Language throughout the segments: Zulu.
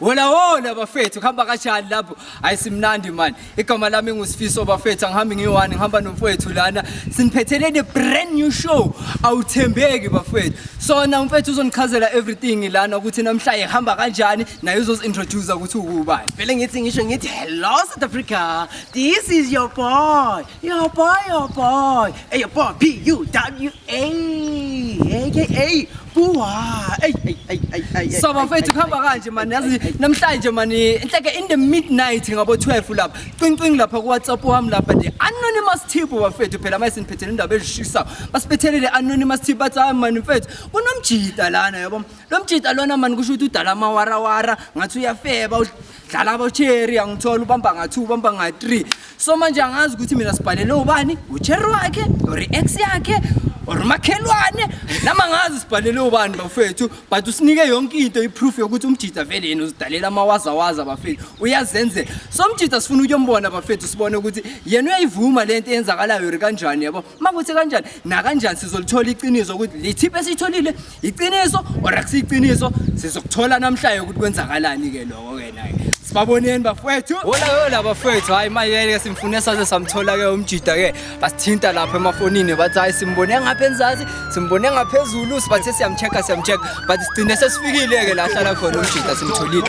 Hola hola bafethu kuhamba kanjani lapho ayisimnandi mani igama lami ngusifiso bafethu angihambi ngiyi-one ngihamba nomfowethu lana siniphetheleni brand new show awuthembeki bafethu so na umfethu uzonichazela everything lana ukuthi namhla ihamba kanjani naye uzozi-introduce ukuthi uwubani Vele ngithi ngisho ngithi hello South Africa. This is your boy. Yo boy, yo boy. Hey, yo boy, P U W A. Hey, hey, hey. Buwa. Hey, hey, hey, hey, hey. So bafethu kuhamba kanje man yazi namhlanje man inhleke in the midnight ngabo 12 lapha. Qincing lapha ku WhatsApp wami lapha the anonymous tip bafethu phela mase niphethele indaba ezishisa. Basiphethelele le anonymous tip bathi hayi man mfethu kunomjita lana yabo. Lomjita lona man kusho ukuthi udala amawarawara ngathi uyafeba dlala abocherry angithola ubamba nga-two ubamba nga-three so manje angazi ukuthi mina sibhalele ubani ucherry wakhe or i-ex yakhe or umakhelwane nama ngazi sibhalele ubani bafethu but usinike yonke into iproof yokuthi umjita vele yena uzidalela amawazawaza bafethu uyazenzela so umjita sifuna ukuyombona bafethu sibone ukuthi yena uyayivuma le nto eyenzakalayo ri kanjani yabo makuthi kanjani nakanjani sizolithola iqiniso ukuthi lithiphe esiyitholile iqiniso or akusiyiqiniso sizokuthola namhlanje ukuthi kwenzakalani ke lokho ke naye sibaboneni bafowethu hola hola bafowethu hayi mayeke simfune saze samthola ke umjida ke basithinta lapha emafonini bathi hayi simbone ngapha enzansi simbone ngaphezulu sibathe siyamchecka siyamchecka but sigcine sesifikile ke la hlala khona umjida simtholile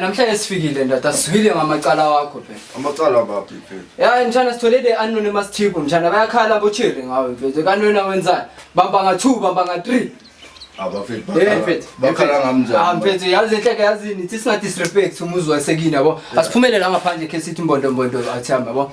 namhlanje sifikile ndoda sizwile ngamacala wakho phela mshana sithole le anone masithipho mshana bayakhala bochiri ngawe mfethu kanwena wenzani bambanga two bambanga three mfethu yazi enhleke yazini thi singadisrespect umuzi wasekini yabo asiphumelele angaphandle khe sithi mbondombondo athi hamba yabo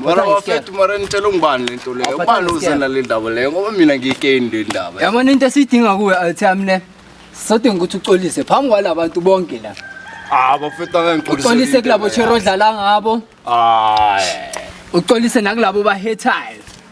mara wafethu mara nitshela ungubani le nto leyo ubani uzela le ndaba leyo ngoba mina ngiyikeni le ndaba yabona into esiyidinga kuwe altham ne sodinga ukuthi uxolise phambi kwala bantu bonke la ah, uxolise kulabo chero odlala ngabo uxolise nakulabo bahetayo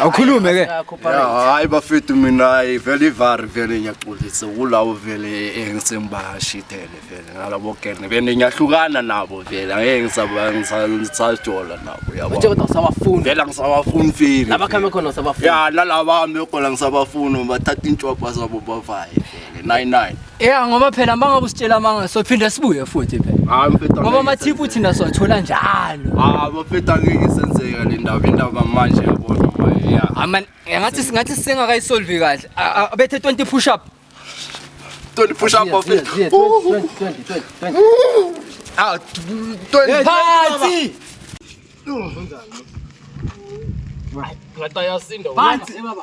awukhulume ke hayi bafethu mina hayi vele ivari vele ngiyaxolisa kulawo vele engisengibashithele vele ngalabo kene bene ngiyahlukana nabo vele angeke ngisajola nabo yabongisawafuni vele ngisawafuni vele nalaba ame khona ngisabafuni bathatha intshwabha zabo bavaye 99 Yeah ngoba phela manga kusitshela manga so phinda sibuye futhi phela hayi mfethu ngoba amathiphu uthi nasothola njalo hayi mfethu angeke isenzeka le ndaba indaba manje yabona yeah aman ngathi singathi singakayisolve kahle abethe 20 push up 20 push up mfethu 20 20 20 ah 20 party Ngata yasinda. Phansi baba.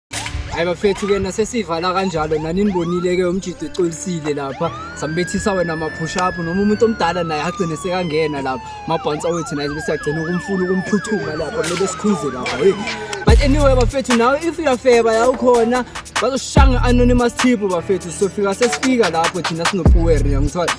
hayi bafethu ke nasesivala kanjalo naninibonile ke umjidi ucolisile lapha sambethisa wena ma-push up noma umuntu omdala naye agcine sekangena lapha mabhansa wethu naye besiyagcina ukumfuna ukumphuthuma lapha kumele sikhuze lapha hey but anyway bafethu nawe if uyafeba la ukhona bazoshanga anonymous tip bafethu sofika sesifika lapho thina sinopuwer yangithola